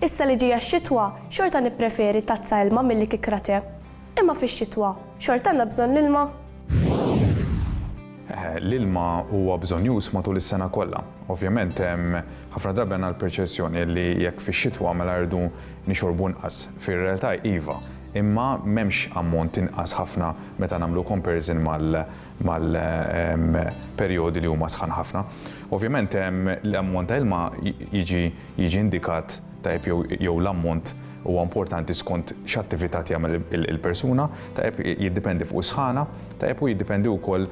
Issa li ġejja x-xitwa, xorta nippreferi tazza ilma milli kikra te. Imma fix-xitwa, xorta għandna bżonn l-ilma? L-ilma huwa bżonnjuż matul is-sena kollha. Ovvjament, ħafna drabi għandna l-perċezzjoni li jekk fix-xitwa mela rridu nixorbu inqas. Fir-realtà iva, imma m'hemmx ammont inqas ħafna meta nagħmlu comparison mal-perjodi li huma sħan ħafna. Ovvjament l-ammont ta' ilma jiġi indikat tajjeb jew l-ammont huwa importanti skont x'attività tjagħmel il-persuna, tajjeb jiddipendi fuq is-sħana, tajjeb u jiddipendi wkoll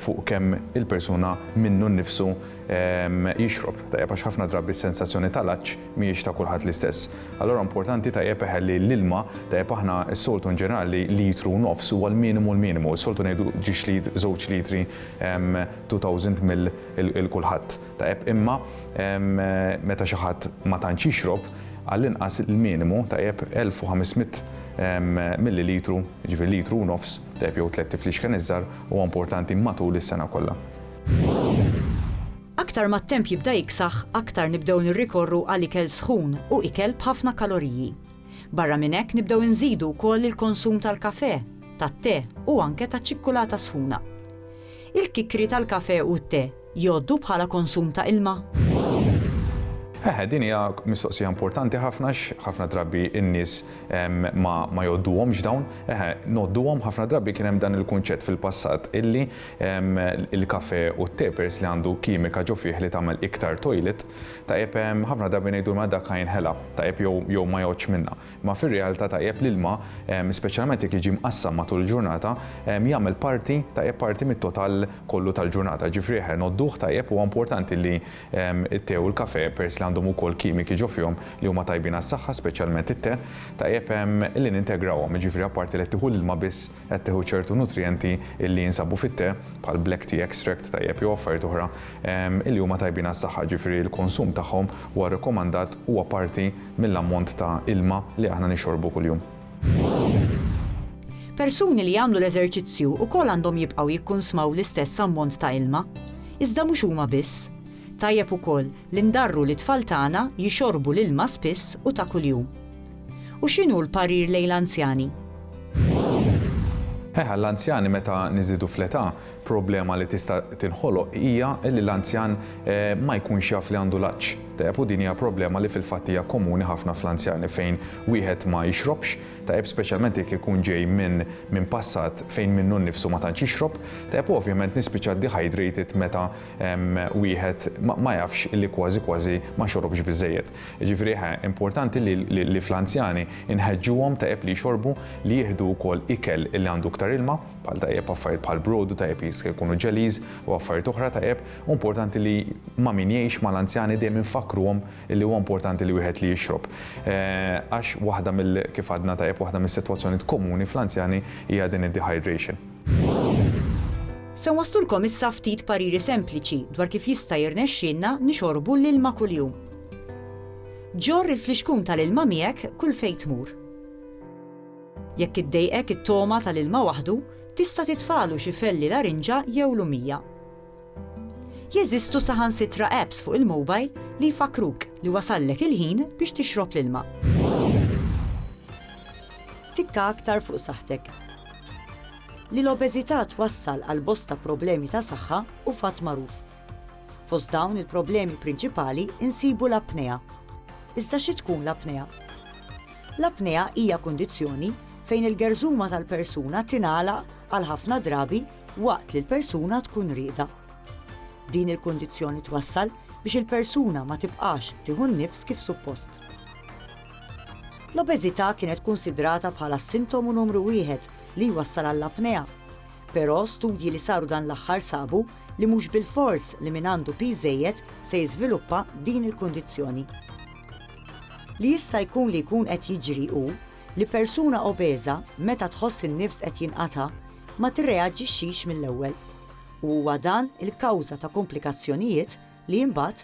fuq kemm il-persuna minnu nnifsu jixrob tajjeb għax ħafna drabi s-sensazzjoni tal-għatx mhijiex ta' kulħadd l-istess. Allura importanti tajjeb eħe li l-ilma tajjeb aħna s-soltu in ġenerali litru u nofs huwa l-minimu l-minimu. Is-soltu ngħidu ġiex lit żewġ litri 2000 ml il kulħadd tajjeb imma meta xi ħadd ma tantx jixrob għall-inqas l-minimu tajjeb 1500 millilitru jiġifieri litru u nofs tajjeb jew tlett tiflixken iż-żgħar huwa importanti matul is-sena kollha. Aktar ma t-temp jibda jiksaħ, aktar nibdew nirrikorru għal ikel sħun u ikel b'ħafna kaloriji. Barra minn hekk nibdew inżidu wkoll il-konsum tal-kafè, tat-te u anke taċ-ċikkulata sħuna. Il-kikri tal-kafè u t-te jgħoddu bħala konsum ta' ilma? Eħe, din hija mistoqsija importanti ħafna x'ħafna drabi n-nies ma jgħodduhomx dawn. Eħe, ngħodduhom ħafna drabi kien hemm dan il-kunċett fil-passat illi Il-kafè u t-te peress li għandu kimika ġo fih li tagħmel iktar toilet, tajjeb ħafna drabi ngħidu ma dak ħa jinħela, tajjeb jew ma jgħoddx minnha. Imma fir-realtà tajjeb l-ilma, speċjalament jekk jiġi mqassam matul il-ġurnata, jagħmel parti, tajjeb parti mit-total kollu tal-ġurnata. Jiġifieri eħe ngħodduh tajjeb huwa importanti li t-te u l-kafè peress li għandhom ukoll kimiki ġo fihom li huma tajbin għas-saħħa, speċjalment it-te, tajjeb li nintegrawhom, jiġifieri apparti li qed tieħu l-ilma biss, qed tieħu ċertu nutrijenti illi jinsabu fit-te, bħal black tea extract tajjeb jew affarijiet oħra, illi huma tajbin għas-saħħa, ġifieri l-konsum tagħhom huwa rrekomandat, huwa parti mill-ammont ta' ilma li aħna nixxorbu kuljum. Persuni li jagħmlu l-eżerċizzju wkoll għandhom jibqgħu jikkunsmaw l-istess ammont ta' ilma. Iżda mhux huma biss. Tajjeb ukoll li ndarru lit-tfal tagħna jixorbu l-ilma spiss u ta' kuljum. U x'inhu l-parir lejn l-anzjani? Eħe, għall-anzjani meta niżdiedu fl-età, problema li tista' tinħoloq hija li l-anzjan ma jkunx jaf li għandu l-għatx. Tajjeb, u din hija problema li fil-fatt hija komuni ħafna fl-anzjani fejn wieħed ma jixrobx, tajjeb speċjalment jekk ikun ġej minn minn passat fejn minnu nnifsu ma tantx jixrob, tajjeb u ovvjament nispiċċa dehydrated meta wieħed ma jafx li kważi kważi ma xorobx biżżejjed. Jiġifieri ħa importanti li li fl-anzjani nħeġġuhom tajjeb li jxorbu, li jieħdu wkoll ikel li għandu iktar ilma, bħal tajjeb affarijiet bħal brodu, tajjeb li jiska jkunu jellies u affarijiet oħra tajjeb, u importanti li ma' min jgħix mal-anzjani dejjem infakkruhom li huwa importanti li wieħed li jixrob. Għax waħda mill kif għadna tajjeb waħda mis-sitwazzjonijiet komuni fl-anzjani hija din id-dehydration. Se nwasslulkom issa ftit pariri sempliċi dwar kif jista' jirnexxielna nixorbu l-ilma kuljum. Ġorr il-flixkun tal-ilma miegħek kull fejn tmur. Jekk iddejqek it-togħma tal-ilma waħdu, tista' titfagħlu xi felli larinġa jew lumija. Jeżistu saħansitra apps fuq il-mobile li jfakkruk li wasallek il-ħin biex tixrob l-ilma. Tikka aktar fuq saħħtek. Li l-obeżità twassal għal bosta problemi ta' saħħa hu fatt magħruf. Fost dawn il-problemi prinċipali insibu l-apnea. Iżda xi tkun l-apnea? L-apnea hija kundizzjoni fejn il-gerżuma tal-persuna tingħalaq għal ħafna drabi waqt li l-persuna tkun rieda. Din il-kundizzjoni twassal biex il-persuna ma tibqax tieħu n-nifs kif suppost. L-obeżità kienet kunsidrata bħala s-sintomu numru wieħed li jwassal għall-apnea, però studji li saru dan l-aħħar sabu li mhux bilfors li min għandu piż żejjed se jiżviluppa din il-kundizzjoni. Li jista' jkun li jkun qed jiġri hu li persuna obeża meta tħoss in-nifs qed jinqata' ma tirreaġixxix mill-ewwel u huwa dan il-kawża ta' komplikazzjonijiet li imbagħad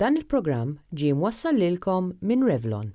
Dan il-programm ġie mwassal lilkom minn Revlon.